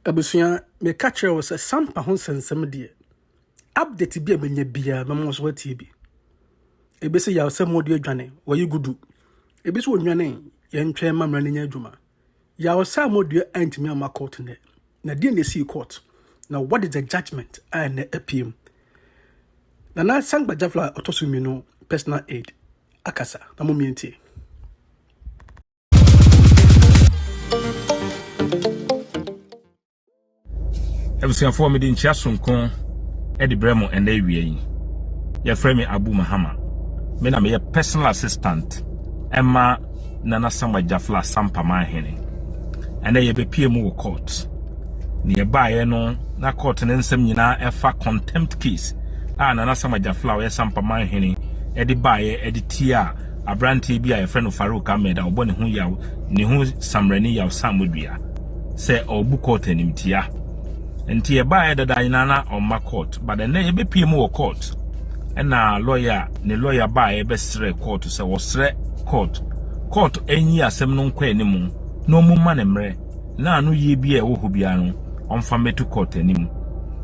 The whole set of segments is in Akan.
Abusua, meka kyerɛ wo sɛ sampa ho nsɛnsɛm deɛ, update bi a bɛnya biara bɛma wo so watie bi. Ebi sɛ yaw sɛ mode adwane, wɔyi gudu. Ebi sɛ onwane, yɛntwɛn ma mmara no nya adwuma. Yaw sɛ amodua antumi amma court nnɛ. Na deɛ na ɛsii court? Na what is the judgment a ɛnɛ apiem? Nana Sankpa Jafla ɔtɔ so mmienu personal aid akasa na mo mmientie. abusuafoɔ mede nkyia sonko de brɛ mo ɛnɛ awia yi yɛfrɛ me abu mahama me na meyɛ personal assistant ɛma nana sama gyafla sampa ma ahene ɛnɛ yɛbɛpie mu wɔ court ne yɛbaeɛ no na court ne nsɛm nyinaa ɛfa contempt case a nana sama gyafla ɔyɛ sampa ma ahene ɛde baeɛ ɛde tie a aberanteɛ bi a yɛfrɛ no Farouk Ahmed a ɔbɔ ne ho yaw ne ho samrani yaw samodua sɛ ɔbu court animtia nti yɛbaeɛ dada nyinaa na ɔmma court but ɛnɛ yɛbɛpie mu wɔ court ɛna lawyer ne lawyer baeɛ bɛsrɛ court sɛ wɔsrɛ court court ɛnyi asɛm no nkɔ anim na ɔmu ma ne mmerɛ na anoyie bi a ɛwɔ hɔ biara no ɔmfa mmɛto court anim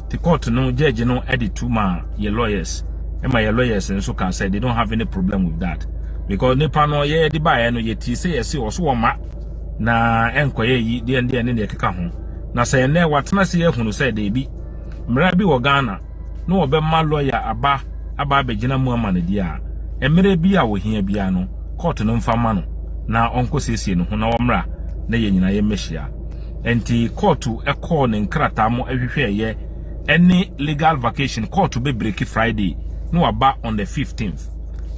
te court no judge no de to ma yɛ lawyers ɛma yɛ lawyers nso ka sɛ they don't have any problem with that because nipa no yɛ de baeɛ no yɛti sɛ yɛse ɔso wɔ ma na ɛnkɔyɛ yi deɛ deɛ ne deɛ keka ho na sɛ ɛnɛ watena se yɛhunu sɛ deebi mmara bi wɔ Ghana na wɔbɛma lɔya aba aba abɛgyina mu ama no deɛ a, mmerɛ bi a wɔhia biara no, kɔɔto no mfa ma no na ɔnkɔsiesie ne ho na ɔmmra na yɛn nyinaa yɛmmɛhyia. Ɛnti kɔɔto kɔɔ ne nkrataa mu hwehwɛeɛ ɛne legal vacation, kɔɔto bɛbreki Friday na waba on the 15th.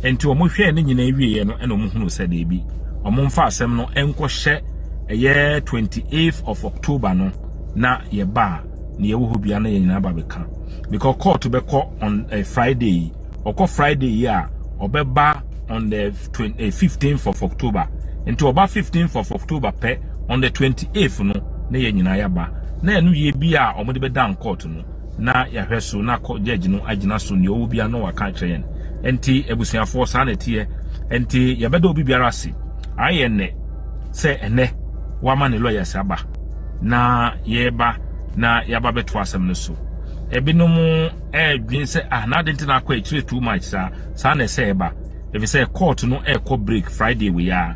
Ɛnti wɔn hwɛɛ ne nyinaa wieɛ no ɛna wɔn hunuu sɛ deebi, wɔn mfa asɛm no nkɔhyɛ ɛyɛ 28th of October no na yɛbaa. nea ɛwɔ hɔ biara na yɛn nyinaa ba bɛka because court bɛkɔ on uh, friday yi ɔkɔ friday yi a ɔbɛba on the 15th eh, of october nti ɔba 15th of october pɛ on the 28th no na yɛn nyinaa yɛaba na ɛno yie bi a wɔde bɛda court no na yɛahwɛ so na judge no agyina so nea ɔwɔ biara na waka akyerɛ yɛn nti abusuafoɔ saa na ɛteɛ nti yɛbɛda obi biara ase ayɛ nnɛ sɛ ɛnɛ wama ne lawyers aba Na yɛreba na yɛaba bɛto asɛm no so. Ebinom ɛredwen sɛ ah na adi nti na akɔ akyire too much saa saa na ɛsɛ ɛba efisɛ court no ɛrekɔ break Friday wei a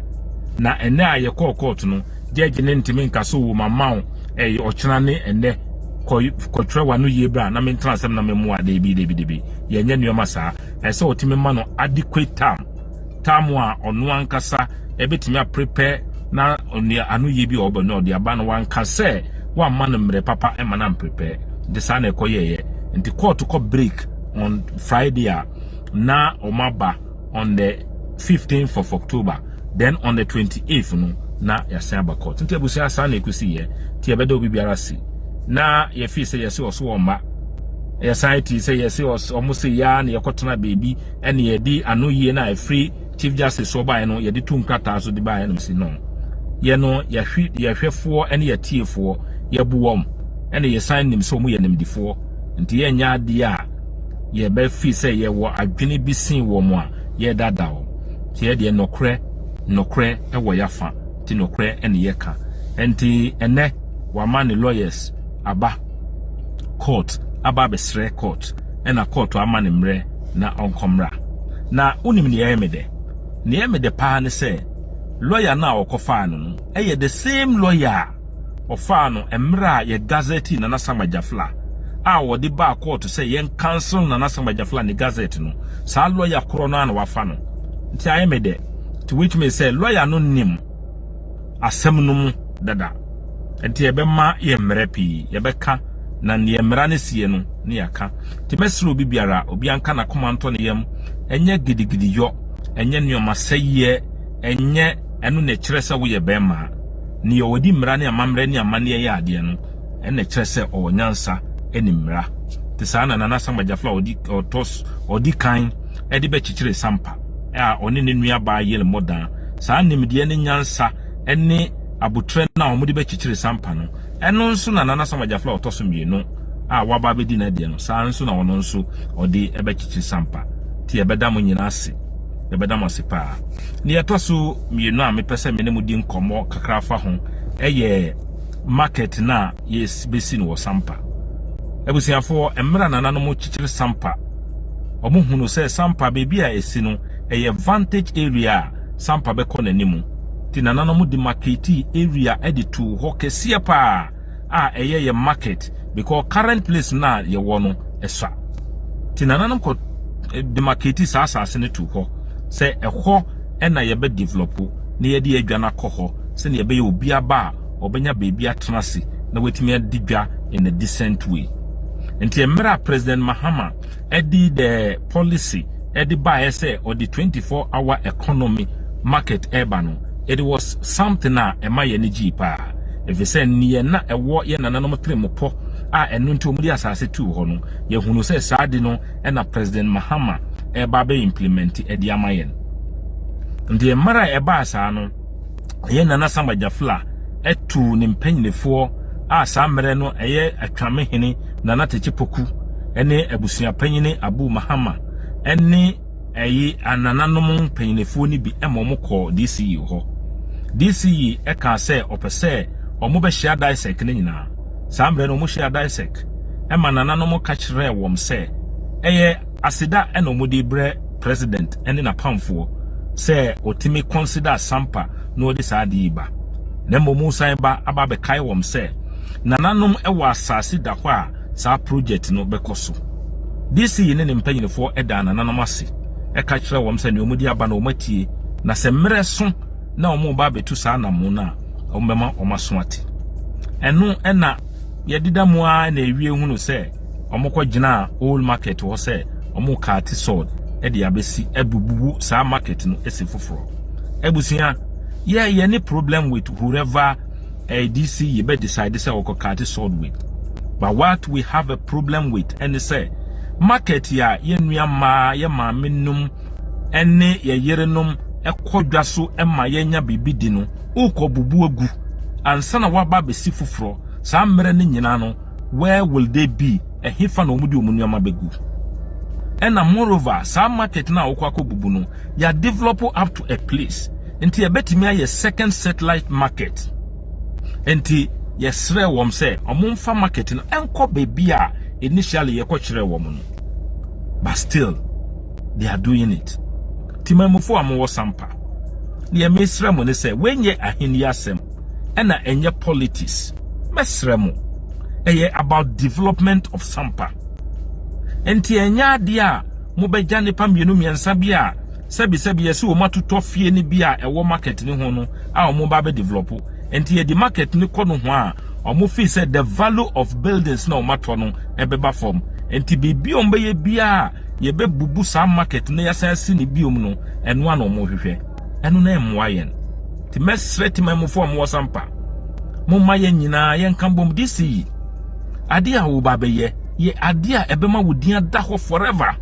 na ɛnɛ a yɛkɔɔ court no judge ne ntumi nka so wɔ mama wo ɛyɛ ɔkyena ne ɛnɛ kɔ kɔtwerɛ wa no yie bra na mentena asɛm na memmoa debi debi debi yɛnyɛ nneɛma saa ɛsɛ ɔtumi ma no adequate time tam a ɔno ankasa ɛbɛtumi aprepɛ na ɔnua anoyie bi a ɔbɛ no ɔde aba no wanka sɛ wamma no mmerɛ papa ɛma no amprepɛ nti saa na ɛkɔyɛeɛ nti kɔɔto kɔ break on friday a na wɔn aba on the 15th of october then on the 28th no na yɛasan aba kɔɔto nti abusua saa na ɛkɔsiiɛ nti yɛbɛda obi biara si na yɛfii sɛ yɛse ɔso wɔn mma yɛsan ti sɛ yɛse ɔmo se yɛa na yɛkɔtena baabi ɛne yɛde anoyie no a ɛfiri chief justice so baeɛ no yɛde tu nkrataa so de baeɛ no si no yɛ no yɛhwe yɛhwɛfoɔ ɛne yɛtiefoɔ yɛbu wɔn ɛne yɛsan nim sɛ wɔn yɛ nimdifoɔ nti yɛnyɛ adeɛ a yɛbɛfi sɛ yɛwɔ adwene bi sen wɔn a yɛdada wɔn sɛ yɛdeɛ nɔkorɛ nɔkorɛ ɛwɔ yɛafa nti nɔkorɛ ɛne yɛka nti ɛnɛ wama ne lawyers aba court aba abɛsrɛ court ɛna court ama ne mmerɛ na ɔnkɔmmra. Na wonim nea ɛyɛ me dɛ? Nea ɛyɛ me dɛ paa ne sɛ lɔya no a wɔkɔfaa no no yɛ the same lɔya a ɔfaa no mmerɛ a yɛ gazɛte Nana Sam Agyafla a wɔde baa kɔɔto sɛ yɛn cancel Nana Sam Agyafla ne gazɛte no, saa lɔya korɔ no ara na wafa no. Nti ayɛ me dɛ. Nti woatumi sɛ lɔya no nim. asɛm no mu dada. Nti ɛbɛma yɛ mmerɛ pii yɛbɛka na neɛ mmara no seɛ no ne yɛaka. Nti mɛsrɛ obi biara obiara nka nakoma ntɔ ne yam ɛnyɛ gidigidi yɔ ɛnyɛ nnoɔma sɛyiɛ ɛnyɛ ɛno na ɛkyerɛ sɛ woyɛ bɛɛmaa. Neɛ ɔdi mmara ne amammerɛ ne amanneɛ yɛ adeɛ no ɛna ɛkyerɛ sɛ ɔwɔ nyansa ɛnim mmara. Nti saa na Nana Asamoah Gyafla ɔdi ɔtɔ ɔdi kan. de bɛkyekyere Sampa a ɔne ne nuabaa yere mmɔ dan. Saa nimdeɛ ne nyansa ne abotire no a wɔde bɛkyekyere Sampa no, ɛno nso na Nana Sam Agyaflo a ɔtɔ so mmienu a waba abɛdi n'adeɛ no, saa nso na ɔno nso ɔde bɛkyekyere Sampa. Nti yɛbɛda mo nyinaa ase. Yɛbɛda mo ase paa. Deɛ ɛtɔ so mmienu a mepɛ sɛ me ne mo di nkɔmmɔ kakra fa ho yɛ market no a yɛbɛsi no wɔ Sampa. Abusuafoɔ, mmerɛ a nananom kyekyere Sampa Wɔhunu sɛ sampa baabi a ɛsi no, ɛyɛ vantage area a sampa bɛkɔ n'anim. Nti nananom de marketii area de too hɔ kɛseɛ paa a ɛyɛ yɛ market because current place no a yɛwɔ no ɛsua. Nti nananom kɔ de marketii saa asase no too hɔ sɛ ɛhɔ na yɛbɛ develop na yɛde adwa no akɔ hɔ sɛdeɛ ɛbɛyɛ obi aba a ɔbɛnya baabi atena ase na watumi adi dwa in a decent way. Nti mmerɛ a President Mahama de the policy de baeɛ sɛ ɔde 24 hour economy market ɛreba no, it was something a ɛma yɛn ani gyee paa. Ɛfiri sɛ neɛ na ɛwɔ yɛn nananom tremopɔ a ɛno nti wɔde asase tuu hɔ no, yɛhunu sɛ saa de no na President Mahama ɛreba abɛ implement de ama yɛn. Nti mmerɛ a ɛbaa saa no, Ɛyɛ Nana Samba Jafla tuu ne mpanyinifoɔ a saa mmerɛ no ɛyɛ Atwame hene Nana Tekyɛ Poku ne abusua panyini Abu Mahama ne ɛyi anananom mpanyinifoɔ no bi ma wɔn kɔɔ DCE hɔ. DCE ɛkaa sɛ ɔpɛ sɛ wɔn bɛhyia Daisek no nyinaa. Saa mmerɛ no wɔn hyia Daisek ɛma nananom ka kyerɛɛ wɔn sɛ ɛyɛ Aseda na wɔn de brɛ president ne n'apamfoɔ sɛ wɔtumi consider asampa na wɔde saa ade yi ba. Na mmom wosan ba aba abɛkae wɔn sɛ nananom wɔ asase da hɔ a saa project no bɛkɔ so. DC ne ne mpanyinfoɔ daa nananom ase ka kyerɛ wɔn sɛ nea wɔn de aba no wɔn atie na sɛ mmerɛ so na wɔn reba abɛtu saa anamo no a wɔbɛma wɔn aso ate. Ɛno na yɛdeda mu ara na awie hunu sɛ. wɔkɔgyinaa old market hɔ sɛ wɔrekate sod de abɛsi abububu saa market no asi foforɔ. Abusua, yɛ yɛ ne problem with whoever ADC eh, yɛbɛ decide sɛ wɔkɔkate sod with. But what we have a problem with ɛne sɛ market a yɛn nua mmaa, yɛn maame nom ɛne yɛ yerenom ɛkɔ dwa so ɛma yɛnya biribi di no, wokɔ bubu agu ansa na waba abɛsi foforɔ saa mmerɛ no nyinaa no Where will they be? Ɛhefa na wɔde wɔn nneɛma bɛgu? Ɛna moreover, saa market no a wokɔ akɔbubu no, yɛadevelop up to a place. Nti yɛbɛtumi ayɛ second satellite market. Nti yɛsrɛ wɔn sɛ wɔmfa market no ɛnkɔ baabi a initially yɛkɔkyerɛɛ wɔn no. But still, they are doing it. Timamufo a mowɔ Sampa, deɛ mesrɛ mo ne sɛ, wenyɛ ahenni asɛm. ɛna ɛnyɛ politics mɛsrɛ mo ɛyɛ about development of sampa nti ɛnyɛ adeɛ a mobɛgya nipa mmienu mmiɛnsa bi a sɛbi sɛbi yɛsi wɔn atotɔ fie no bi a ɛwɔ market ne ho no a wɔn ba bɛ develop nti yɛde market ne kɔ no ho a wɔn fi sɛ the value of buildings na wɔn atɔ no ɛbɛba fam nti biribi a wɔn bɛyɛ biara yɛbɛbubu saa market na yɛsan asi ne biom no ɛno a na wɔn hwehwɛ ɛno na ɛmmoa yɛn. Te mɛsrɛ te manmufo a wɔwɔ sampa. Momma yɛn nyinaa yɛnka bom de si ade a wɔba bɛyɛ. Yɛ ade a ɛbɛma wo din ada hɔ forever.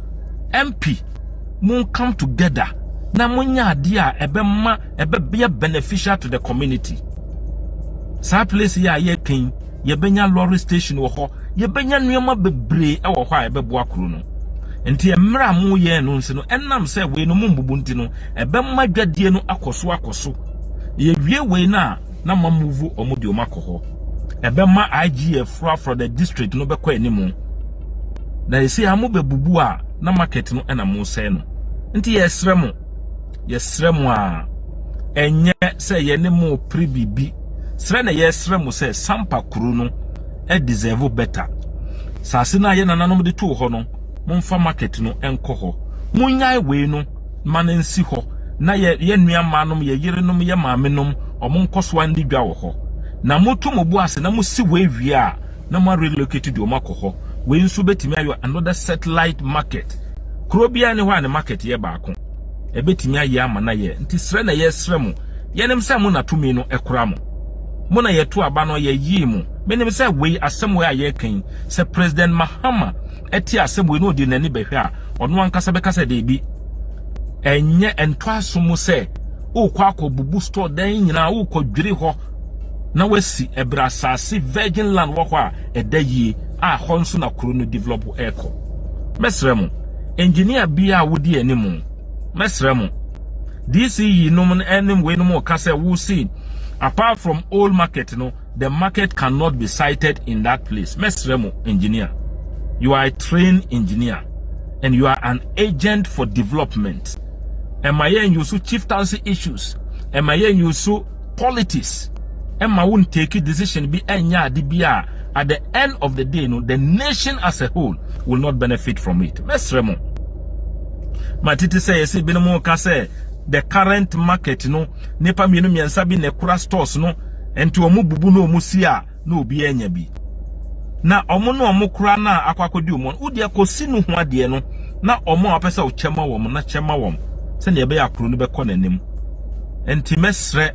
MP, mo come together na monyɛ ade a ɛbɛma ɛbɛyɛ beneficial to the community. Saa place yi a yɛtwe yi, yɛbɛnya lorry station wɔ hɔ, yɛbɛnya nneɛma bebree wɔ hɔ a ɛbɛboa kuro no. Nti mmerɛ a moyɛɛ no nso no, ɛnam sɛ wei no mombubu nti no, Ɛbɛma dwadie no akɔ so akɔ so. Yɛwie wei no a, na mamuvu wɔn de wɔn akɔ hɔ. Ɛbɛma IGF fra for the district no bɛkɔ anim. Na ɛsɛ a mobɛbubu a na market no ɛna mosɛe no. Nti yɛsrɛ mo, yɛsrɛ mo a ɛnyɛ sɛ yɛne mo pere biribi. Srɛ na yɛsrɛ mo sɛ Sampa kuro no ɛ deserve better. Saase no a yɛ nananom de too hɔ no, momfa market no nkɔ hɔ. Monyae wei no. ma no nsi hɔ na yɛ yɛ nua mmaa nom, yɛ yere nom, yɛ maame nom, wɔn nkɔsoa nni dwa wɔ hɔ. Na moto mo bo ase na mosi wei wie a, na mo arelocate de wɔn akɔ hɔ. Wei nso bɛtumi ayɛ another satellite market. Kuro biara ni hɔ a ne market yɛ baako. Ɛbɛtumi ayɛ ama no ayɛ. Nti srɛ na yɛsrɛ mo. Yɛnim sɛ mo na tumi no kura mo. Mo na yɛto aba no, yɛyii mo. Menim sɛ wei asɛm wei a yɛreka yi, sɛ President Mahama te asɛm wei na ɔde n'ani bɛhwɛ a, ɔno ankasa bɛka sɛ daabi. Ɛnyɛ ɛntɔ aso mu sɛ wokɔ akɔbubu store dan nyinaa wokɔdwiri hɔ na wasi ɛberɛ asase virgin land wɔ hɔ a ɛda yie a hɔ nso na kuro no develop ɛrekɔ. Mɛsrɛ mo, engineer biara a wodi anim, mɛsrɛ mo, DCE nom ne wei nom ka sɛ wosi apart from old market no, The market cannot be sighted in that place. Mɛsrɛ mo, engineer. You are a trained engineer and you are an agent for development. Ɛma yɛn yusu chieftaincy issues. Ɛma yɛn yusu politics. Ɛma won take decision bi ɛnyɛ ade bi a at the end of the day no the nation as a whole will not benefit from it. Mɛsrɛ mo. Ma titi sɛ yɛsɛ binom ka sɛ the current market no nipa mmienu mmiɛnsa bi na ɛkura stores no Nti wɔn bubu na wɔn si a na obi anya bi. Na wɔn na wɔn kora na akɔ akɔdi wɔn. Wo deɛ kɔsi no ho adeɛ no na wɔn a wɔpɛ sɛ wɔkyɛ ma wɔn na kyɛ ma wɔn sɛdeɛ ɛbɛyɛ akuro no bɛkɔ n'anim. Nti mɛsrɛ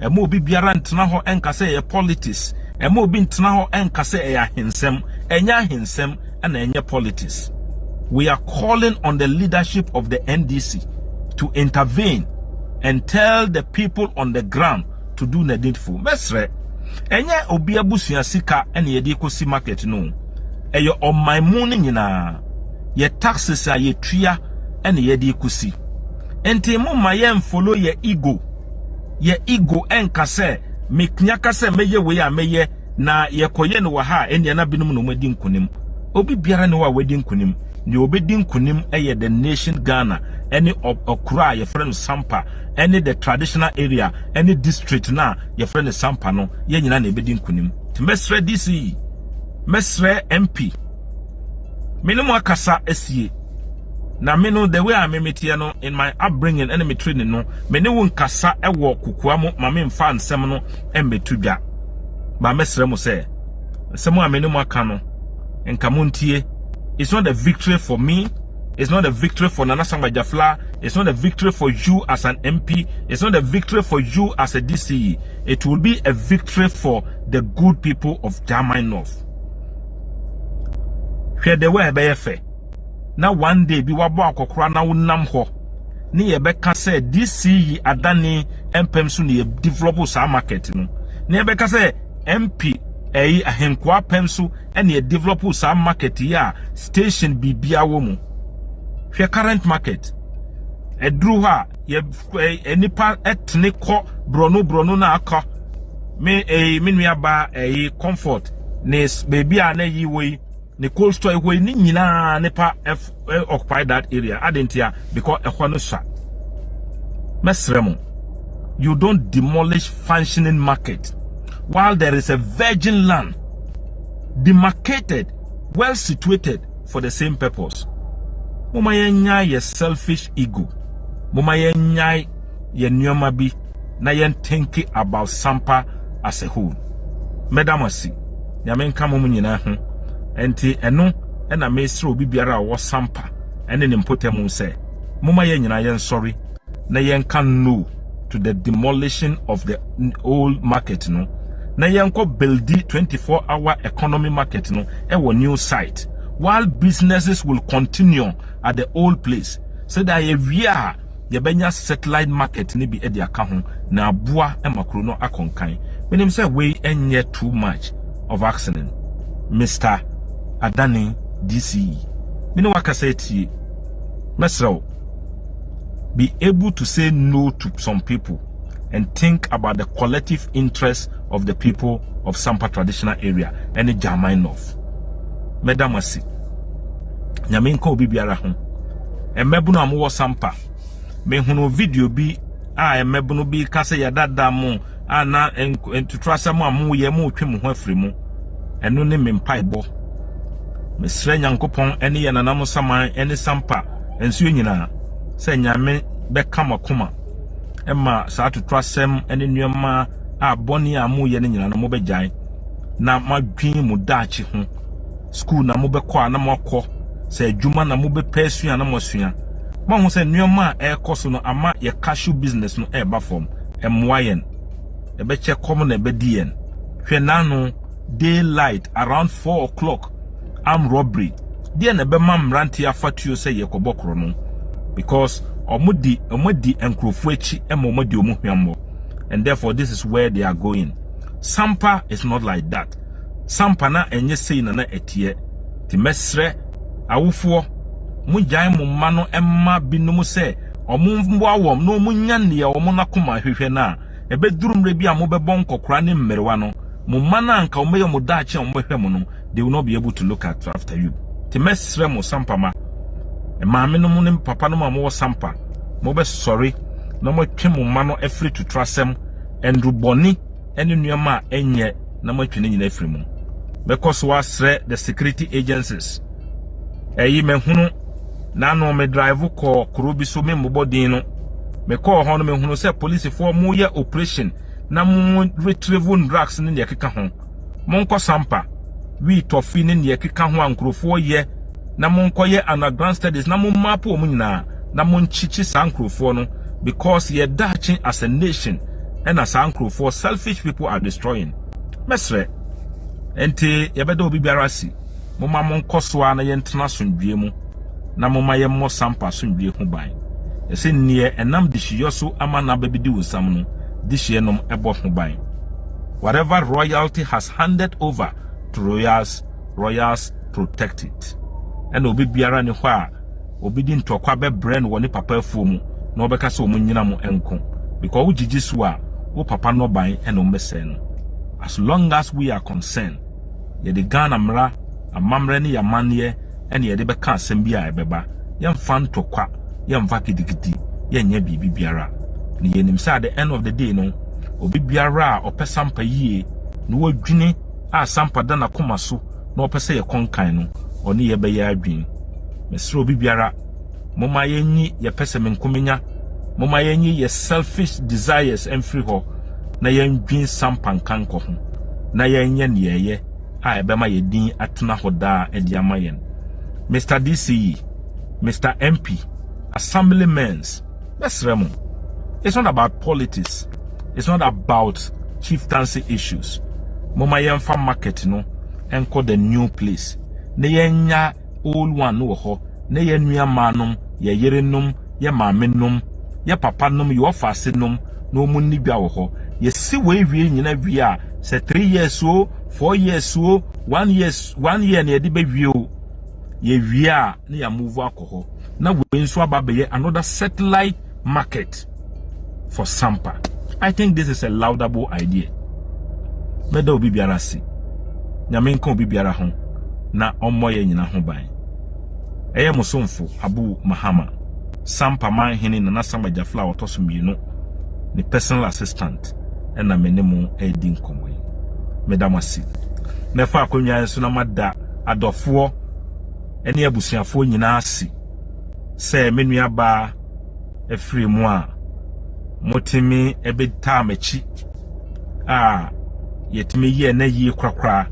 ɛma obi biara ntena hɔ nka sɛ ɛyɛ politics. Ɛma obi ntena hɔ nka sɛ ɛyɛ ahensɛm. Ɛnyɛ ahensɛm na ɛnyɛ politics. We are calling on the leadership of the NDC to intervene and tell the people on the ground to do needful. Mɛsrɛ, ɛnyɛ obi abusua sika na yɛde kɔsi market no. Ɛyɛ ɔman mu no nyinaa. Yɛ taxes a yɛtua na yɛde kɔsi. Nti momma yɛmfolo yɛ ego. Yɛ ego nka sɛ, mɛtumi aka sɛ mɛyɛ wei a mɛyɛ. Na yɛkɔyɛ no wɔ ha a, ɛnneɛ na binom na wɔadi nkonim. Obi biara ne hɔ a wadi nkonim. Deɛ ɔbɛdi nkonim yɛ the nation Ghana ne ɔkuro a yɛfrɛ no Sampa ne the traditional area ne district no a yɛfrɛ no Sampa no. Yɛn nyinaa na ɛbɛdi nkonim. Nti mɛsrɛ DC, mɛsrɛ MP. me ne mo akasa asie na me no the way a me meteɛ no in my upbringing ɛne me training no me ne wo nkasa ɛwɔ kokoa mo ma me mfa nsɛm no ɛmbɛto dwa ba mɛsrɛ mo sɛ nsɛm a me ne mo aka no nka mo ntie it's not a victory for me It's not a victory for Nana Samba Jafla. It's not a victory for you as an MP. It's not a victory for you as a DCE. It will be a victory for the good people of Jamai North. Hwɛ the way a ɛbɛyɛ fɛ na one day bi wabɔ akɔkora na wonam hɔ ne yɛbɛka sɛ DCE adane mpɛm so na yɛdevelop saa market no. Na yɛbɛka sɛ MP ɛyi ahenkoa pɛm so na yɛdevelop saa market yi a station biribia wɔ mu. Hwɛ current market. Ɛduru hɔ a yɛ eh, nipa tene kɔ borɔno borɔno na aka me eh, me nua baa eh, comfort ne baabi a na yi wɔ yi ne cold store hɔ yi ne nyinaa nipa eh, occupy that area adentia because ɛhɔ no sua mɛsrɛ mo you don't demolish functioning market while there is a virgin land demarcated well situated for the same purpose moma yɛnyae yɛ selfish ego moma yɛnyae yɛ nneɛma bi na yɛn think about sampa as a whole mɛda mo ase nyame nka mo nyinaa ho ɛnti ɛno ɛna mesrɛ obi biara a ɔwɔ sampa ɛne ne mpɔtamu sɛ moma yɛn nyinaa yɛn sɔre na yɛn ka no to the demolition of the old market no na yɛnkɔ buildi 24 hour economy market no ɛwɔ new site while businesses will continue at the old place so that yɛwie a yɛbɛnya satellite market no bi de aka ho na aboa ma kuro no akɔnkan menim sɛ wei ɛnyɛ too much of accident mr adani dce mene wakasa atie mɛsrɛ wo be able to say no to some people and think about the collective interest of the people of Sampa traditional area and German North. Medamasi. Nyame nka obi biara ho. Mmabunu a mowɔ Sampa. Mehunu video bi a mmabunu bi ka sɛ yɛdada mo a na ntuturasɛm a moyɛ motwe mo ho afiri mu. Ɛno ne me mpaebɔ. Mesrɛ Nyankopɔn ne yɛn nananom nsaman ne Sampa nsuo nyinaa sɛ Nyame bɛka mo akoma ma saa atotorasɛm ne nneɛma a bɔne a moyɛ no nyinaa no mobɛgyae na moadwen mo daakye ho. Sukuu na mobɛkɔ a na moakɔ, sɛ adwuma na mobɛpɛ asua na moasua. Moahu sɛ nneɛma a ɛrekɔ so no ama yɛ cashew business no reba fam. Ɛmmoa yɛn. Ɛbɛkyɛ kɔm na ɛbɛdi yɛn. Hwɛ n'ano. Day light around four o'clock armed robbery deɛ na ɛbɛma mmeranteɛ afa tuo sɛ yɛkɔbɔ korɔno because wɔn di wɔn adi nkurɔfoɔ akyi ma wɔn adi wɔn hwammɔ and therefore this is where they are going sampa is not like that sampa na ɛnyɛ sei na na ɛteɛ te mɛsrɛ awofoɔ mo gyae mo mma no mma binom sɛ wɔn mmoa wɔn na wɔn nya nea wɔn akoma hwehwɛ no a Ɛbɛduru mmerɛ bi a mobɛbɔ nkɔkora ne mmerewa no, mo mma no a anka wɔbɛyɛ mo daakye a wɔbɛhwɛ mo no, they will not be able to look at after you. Nti mɛsrɛ mo Sampa mma, maamenom ne papanom a mowɔ Sampa, mobɛsɔre na moatwe mo mma no afiri totorasɛm, nnurubɔne ne nneɛma a ɛnyɛ na moatwe ne nyinaa afiri mu. Mɛkɔ so asrɛ the security agencies. Ɛyi mɛhunu. Na no me drive kɔɔ kuro bi so memmobɔ din no. Mekɔɔ hɔ no mehunu sɛ polisifoɔ moyɛ operation na mo retrieve drugs ne deɛ ɛkeka ho. Monkɔ Sampa, Wii Tɔfi ne deɛ ɛkeka ho a nkurɔfoɔ yɛ na monkɔyɛ underground studies na mo map wɔn nyinaa na monkyekye saa nkurɔfoɔ no because yɛn daakye as a nation na saa nkurɔfoɔ selfish people are destroying. Mɛsrɛ. Ɛnti yɛbɛda obi biara asi. Momma monkɔ so ara na yɛntena asomdwoe mu, na momma yɛmmɔ Sampa asomdwoe ho ban. Ɛsɛ nea ɛnam dehyeɛ so ama n'aba bi di wo nsam no, dehyeɛ nom bɔ ho ban. Whatever royalty has handed over to royals, royals protect it. Ɛna obi biara nni hɔ a obedi ntɔkwa bɛbrɛ no wɔ ne papa afuo mu na ɔbɛka sɛ wɔn nyina mo nko because wogyigye so a, wo papa nnɔbae na wɔbɛsɛe no. As long as we are concerned, yɛde Ghana mmara, amammerɛ ne yɛn amanneɛ na yɛde bɛka asɛm bi a ɛbɛba. Yɛmfa ntɔkwa, yɛmfa kitikiti, yɛnyɛ biribi biara. Na yɛnim sɛ at the end of the day no, obi biara a ɔpɛ Sampa yie na wadwini a Sampa da n'akoma so na ɔpɛ sɛ yɛkɔ nkan no, ɔne yɛn bɛyɛ adwene. Mesrɛ obi biara, Momma yɛnyi yɛn pɛsɛmenkominya, momma yɛnyi yɛn selfish desires mfiri hɔ na yɛndwen sampa nka nkɔ ho na yɛnyɛ nea ɛyɛ a ɛbɛma yɛn din atena hɔ daa de ama yɛn. Mister DCE, Mister MP, Assemblymen's, mɛsrɛ mo, it's not about politics, it's not about chieftaincy issues. Momma yɛmfa market no nkɔ the new place na yɛnya old one no wɔ hɔ, na yɛn nuammaanom, yɛn yerenom, yɛn maamenom, yɛn papanom, yɛn ɔfaasenom na wɔnni dwa wɔ hɔ. Yɛsi wei wie nyina wie a, sɛ three years o, four years o, one years, one year na yɛde bɛwie o, yɛwie a na yɛamuvu akɔ hɔ. Na wei nso aba abɛyɛ another satellite market for sampa i think this is a laudable idea mɛda obi biara ase nyame nka obi biara ho na ɔmmɔ yɛ nyina ho ban ɛyɛ mo somfo abu mahama sampa man hene nana sama gyafla a ɔtɔ so mmienu ne personal assistant ɛna me ne mo ɛdi nkɔmmɔ yi meda mo ase mɛfa akonnwa nso na mada adɔfoɔ ɛne abusuafoɔ nyinaa ase sɛ me nuabaa afiri mu a motumi bɛtaa m'akyi a yɛtumi yɛ na yie korakora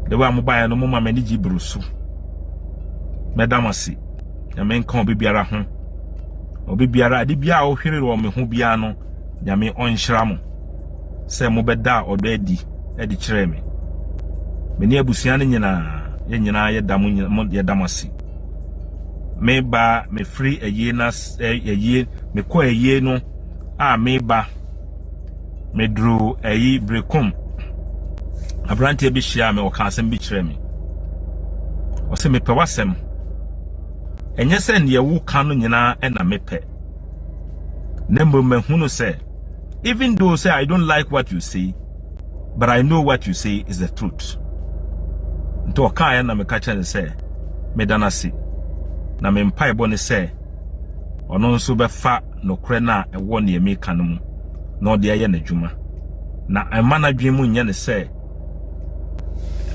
de wa mo baeɛ no mo ma m'ani gye buru so mɛda mo ase nyame nka obi biara ho obi biara ade biara a ɔhwere wɔ me ho biara no nyame ɔnhyira mo sɛ mobɛdaa ɔdɔ adi de kyerɛɛ me. Me ne abusua no nyinaa, yɛn nyinaa yɛda mo nyina mo yɛda mo ase. Me ba mefiri ayie no ase ɛ ayie mekɔ ayie no a me ba meduru ayi Berekom aberanteɛ bi hyiaa me ɔka asɛm bi kyerɛɛ me. Ɔsɛ mepɛ w'asɛm. Ɛnyɛ sɛ deɛ woka no nyinaa na mepɛ. Na mmom mahunu sɛ even though say i don't like what you say but i know what you say is the truth nti ɔkaa yɛ na meka kyerɛ ne sɛ meda no ase na me mpaebɔ ne sɛ ɔno nso bɛfa nokorɛ no a ɛwɔ neɛ meka no mu na ɔde ayɛ n'adwuma na ɛma n'adwene mu nyɛ ne sɛ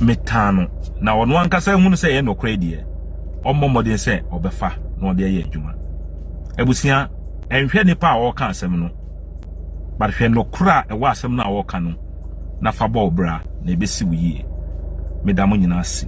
metaa no na ɔno ankasa hunu sɛ ɛyɛ nokorɛ deɛ ɔmmɔ mmɔden sɛ ɔbɛfa na ɔde ayɛ adwuma abusua Nhwɛ nnipa a wɔreka asɛm no, but hwɛ nokorɛ a ɛwɔ asɛm no a wɔreka no na fa bɔ wo bra na ɛbɛsi wo yie. Meda mo nyinaa ase.